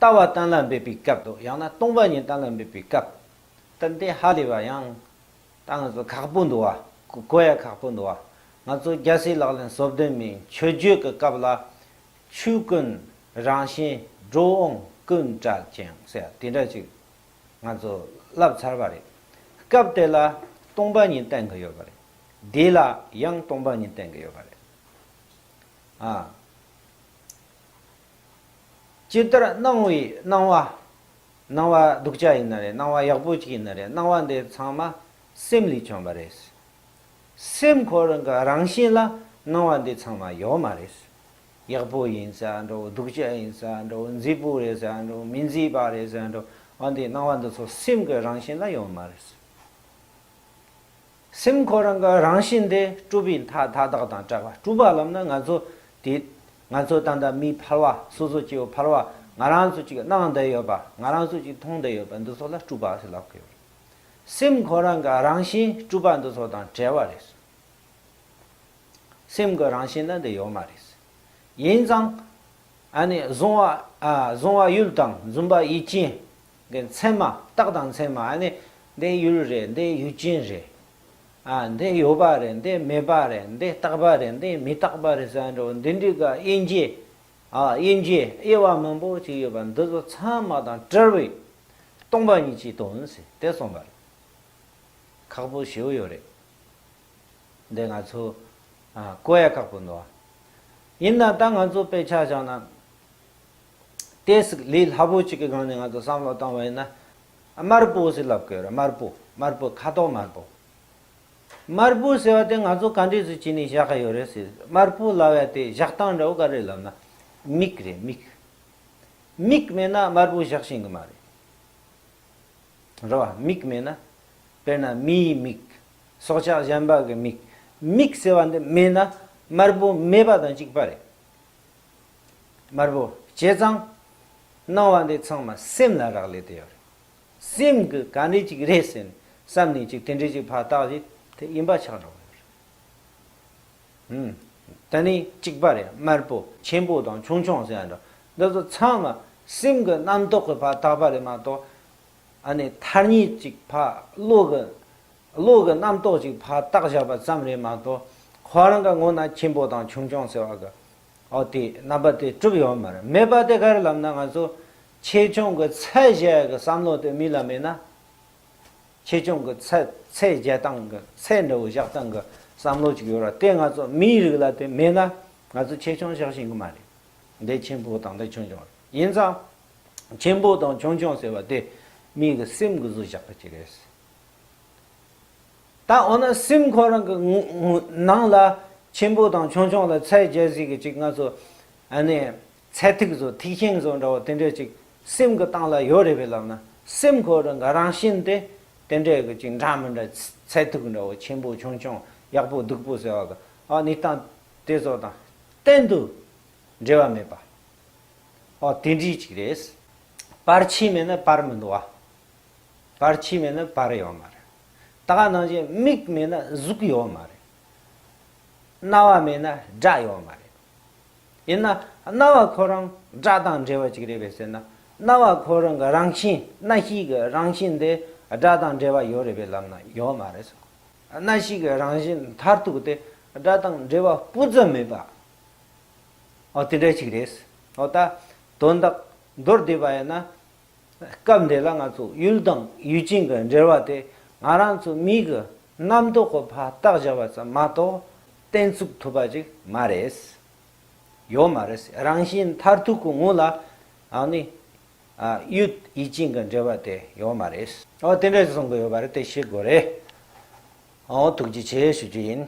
ལྟ་བ་གཏན་ལ་འབེབས་པའི་སྐབས་དང་ཡང་ན་སྟོང་པ་ཉིད་གཏན་ལ་འབེབས་པའི་སྐབས། ཏན་ཏན་ཧ་ལས་པ་ཡང་ད་ང་ཚོ་ཁག་པོ་འདུག་བ་གོ་ཡ་ཁག་པོ་འདུག་བ་ང་ཚོ་རྒྱལ་སྲས་ལག་ལེན་སོབ་དོན་མའི་མཆོད་བརྗོད་ཀྱི་སྐབས་ལ། ཆོས་ཀུན་རང་བཞིན་འགྲོ་འོང་ཀུན་བྲལ་ཅིང་ཟེར་བ་དེ་འདྲ་ཅིག་ང་ཚོ་བསླབས་ཚར་བ་རེད། སྐབས་དེ་ལ་སྟོང་པ་ཉིད་བསྟན་གྱི་ཡོད་པ་རེད། དེ་ལ་ཡང་སྟོང་པ་ཉིད་བསྟན་གྱི་ཡོད་པ་རེད། ཅི་ལྟར་སྣང་བའི་སྣང་བ། སྣང་བ་སྡུག་ཅག་ཡིན་ན་རེད་སྣང་བ་ཡག་པོ་ཅིག་ཡིན་ན་རེད་སྣང་བ་འདི་ཚང་མ་སེམས་ལས་བྱུང་བ་རེད། སེམས་ཁོ་རང་གི་རང་བཞིན་ལ་སྣང་བ་འདི་ཚང་མ་ཡོད་མ་རེད། ཡག་པོ་ཡིན་ཟེར་ཡང་འདྲ་བོ་སྡུག་ཅག་ཡིན་ཟེར་ཡང་འདྲ་བོ་མཛེས་པོ་རེད་ཟེར་ཡང་འདྲ་བོ་མི་མཛེས་པ་རེད་ཟེར་ཡང་འདྲ་བོ་འདི་སྣང་བ་འདི་ཚོ་སེམས་ཀྱི་རང་བཞིན་ལ་ཡོད་མ་རེད། སེམས་ཁོ་རང་གི་རང་བཞིན་དེ་སྤྲུལ་པའི་མཐའ་མཐའ་དག་དང་བྲལ་བ་སྤྲུལ་པ་ལམ་ནི་ང་ཚོ་དེ། ང་ཚོ་ད་ལྟ་མིའི་ཕལ་བ་སོ་སོ་སྐྱེ་བོའི་ཕལ་བ་ང་རང་ཚོ་གཅིག་གནང་བསྡད་ཡོད་པ་ང་རང་ཚོ་གཅིག་མཐོང་བསྡད་ཡོད་པ་འདི་ཚོ་ལ་སྤྲུལ་པ་ཞེས་ལབ་ཀི་ཡོད་རེད། སེམས་ཁོ་རང་གི་རང་བཞིན་སྤྲུལ་པ་འདི་ཚོ་དང་བྲལ་བ་རེད། སེམས་ཀྱི་རང་བཞིན་ལ་འདི་ཡོད་མ་རེད། ཡིན་ཙང། ཨ་ནི། བཟུང་བ་ཡུལ་དང་འཛུམ་པ་ཡིད་ཅན། འདི་མཚན་མ་རྟགས་དང་མཚན་མ་ནི་འདི་ཡུལ་རེད་འདི་ཡུལ་ཅན་རེད། འདི་ཡོད་པ་རེད་འདི་མེད་པ་རེད་འདི་རྟག་པ་རེད་འདི་མི་རྟག་པ་རེད་ཟེར་ནའོ་འདི་འདྲི་ག་དབྱེ་འབྱེད་དབྱེ་འབྱེད་དབྱེ་བ་མང་པོ་ཅིག་ཡོད་པ་འདི་ཚོ་ཚང་མ་དང་བྲལ་བས་སྟོང་པ་ཉིད་ཀྱི་དོན་ཟེར་དེ་གསུངས་པ་རེད། ཁག་པོ་བྱེའུ་ཡོད་རེད། འདི་ང་ཚོ་ཀོ་ཡ་ཁག་པོ་འདུག་ཡིན་ན་ད་ང་ཚོ་དཔེ་ཆ་བཞག་ན། དེ་སྲིད་ལས་སླ་པོ་གཅིག་གི་སྒང་ནས་ང་ཚོ་བསམ་བློ་བཏང་བ་ཡིན་ན། དམར་པོ་ཟེར་ལབ་དགོས་རེད་དམར་པོ་དམར་པོ་ཁ་དོག་དམར་པོ། དམར་པོ་ཟེར་བ་དེ་ང་ཚོ་ག་འདྲས་སུ་བྱས་ནས་བཞག་གི་ཡོད་རེད་ཟེར་དམར་པོ་ལབ་ཡ་དེ་བཞག་སྟངས་འདྲ་བོ་ག་རེད་ལབ་ན། མིག་རེད་མིག། མིག་མེད་ན་དམར་པོ་བཞག་ཤེས་གི་མ་རེད། རེད་བ། མིག་མེད་ན། དཔེར་ན་མིའི་མིག། སྲོག་ཆགས་གཞན་པ་གི་མིག། མིག་ཟེར་བ་འདི་མེད་ན་དམར་པོ་མེད་པ་དང་གཅིག་པ་རེད། དམར་པོ། བྱས་ཙང། སྣང་བ་འདི་ཚང་མ་སེམས་ལ་རག་ལས་དེ་ཡོད་རེད། སེམས་ཀྱི་ག་འདྲས་ཅིག་རེད་ཟེར་ནས་བསམ་ནས་ཅིག་དེ་འདྲས་ཅིག་ཕར་བཏགས་རྗེས་དེ་ཡིན་པ་ཆགས་འགྲོ་གི་ཡོད་རེད། ད་ནི་གཅིག་པ་རེད་དམར་པོ་ཆེན་པོ་དང་ཆུང་ཆུང་ཟེར་ཡ་འདྲ་འདི་ཚོ་ཚང་མ་སེམས་ཀྱི་རྣམ་རྟོག་གི་ཕར་བཏགས་པ་རེད་མ་གཏོགས་ཨ་ནི་ཐར་ཉེས་ཅིག་ཕར་བློ་གི་བློ་གི་རྣམ་རྟོག་ཅིག་ཕར་བཏགས་བཞག་པ་ཙམ་རེད་མ་གཏོགས་ཁོ་རང་གི་ངོ་ན་ཆེན་པོ་དང་ཆུང་ཆུང་ཟེར་བ་གི་ཨོ་དེས་རྣམ་པ་དེ་གྲུབ་ཡོང་མ་རེད་མེད་པ་དེ་གར་ལམ་ན་ང་ཚོ་ཆེད་སྦྱོང་གི་ཚད་གཞལ་གི་བསམ་བློ་དེ་མི་ལ་མེད་ན། ཆེད་སྦྱོང་གི་ཚད་གཞལ་སྟངས་གི་ཚད་འདྲ་བོ་བཞག་སྟངས་གི་བསམ་བློ་ཅིག་ཡོད་ར་དེ་ང་ཚོ་མིའི་རིགས་ལ་དེ་མེད་ན་ང་ཚོ་ཆེད་སྦྱོང་བཞག་བཞིན་གི་མ་རེད་འདི་ཆེན་པོ་དང་འདི་ཆུང་ཆུང་རེད་ཡིན་ཙང། ཆེན་པོ་དང་ཆུང་ཆུང་ཟེར་བ་དེ་མིའི་གི་སེམས་གི་བཟོ་བཞག་གི་ཅིག་རེད། ད་འོ་ན་སེམས་ཁོ་རང་གི་ནང་ལ་ཆེན་པོ་དང་ཆུང་ཆུང་ལ་ཚད་འཇལ་གཟིགས་ཀྱི་ཅིག་ང་ཚོ་ནས་ཚད་ཐིག་ཟོ་ཐིག་ཤིང་ཟོ་འདྲ་བོ་དེ་འདྲས་ཅིག་སེམས་ཀྱི་སྟངས་ལ་ཡོད་རེད་པས་ལབ་ན་སེམས་ཁོ་རང་གི་རང་བཞིན་དེ་དེ་འདྲས་ཀྱི་ཅིག་འདྲ་མི་འདྲ་ཚད་ཐིག་འདྲ་བོ་ཆེན་པོ་ཆུང་ཆུང་ཡག་པོ་སྡུག་པོ་ཟེར་བ་དང་ཨ་ནི་སྟངས་དེ་ཚོ་དང་གཏན་དུ་འབྲེལ་བ་མེད་པ་ཨ་དེ་འདྲས་ཅིག་རེད། བར་ཆད་མེད་ན་བར་མི་འདུག་བ། བར་ཆད་མེད་ན་བར་ཡོད་མ་རེད། ད་ག་ནང་བཞིན་མིག་མེད་ན་གཟུགས་ཡོད་མ་རེད། རྣ་བ་མེད་ན་སྒྲ་ཡོད་མ་རེད། ཡིན་ན་རྣ་བ་ཁོ་རང་སྒྲ་དང་འབྲེལ་བ་ཅིག་རེད་པས་ཟེར་ན་རྣ་བ་ཁོ་རང་གི་རང་བཞིན་སྣ་ཤེས་ཀྱི་རང་བཞིན་དེ་སྒྲ་དང་འབྲེལ་བ་ཡོད་རེད་པའི་ལམ་ན་ཡོད་མ་རེད། སྣ་ཤེས་ཀྱི་རང་བཞིན་མཐར་ཐུག་དེ་སྒྲ་དང་འབྲེལ་བ་སྤུ་ཙམ་མེད་པའོ་དེ་འདྲ་ཅིག་རེད། འོ་ད་དོན་དག་མདོར་བསྡུས་པ་ཡིན་ན་སྐབས་འདི་ལ་ང་ཚོ་ཡུལ་དང་ཡུལ་ཅན་གྱི་འབྲེལ་བ་དེ་ང་རང་ཚོ་མིག་གི་རྣམ་རྟོག་གི་བར་ཐག་བཞག་པ་ཙམ་མ་གཏོགས་གཏན་ཚུགས་ཐུབ་པ་ཅིག་མ་རེད། ཡོད་མ་རེད། རང་བཞིན་མཐར་ཐུག་གི་ངོས་ལ་ཨ་ནི། ཡུལ་ཡུལ་ཅན་གྱི་འབྲེལ་བ་དེ་ཡོད་མ་རེད། འོ་དེ་འདྲ་གསུང་གི་ཡོད་པ་རེད་དེ་ཤེས་དགོས་རེད། འོ་ཐུགས་རྗེ་ཆེ་ཞུ་རྒྱུ་ཡིན།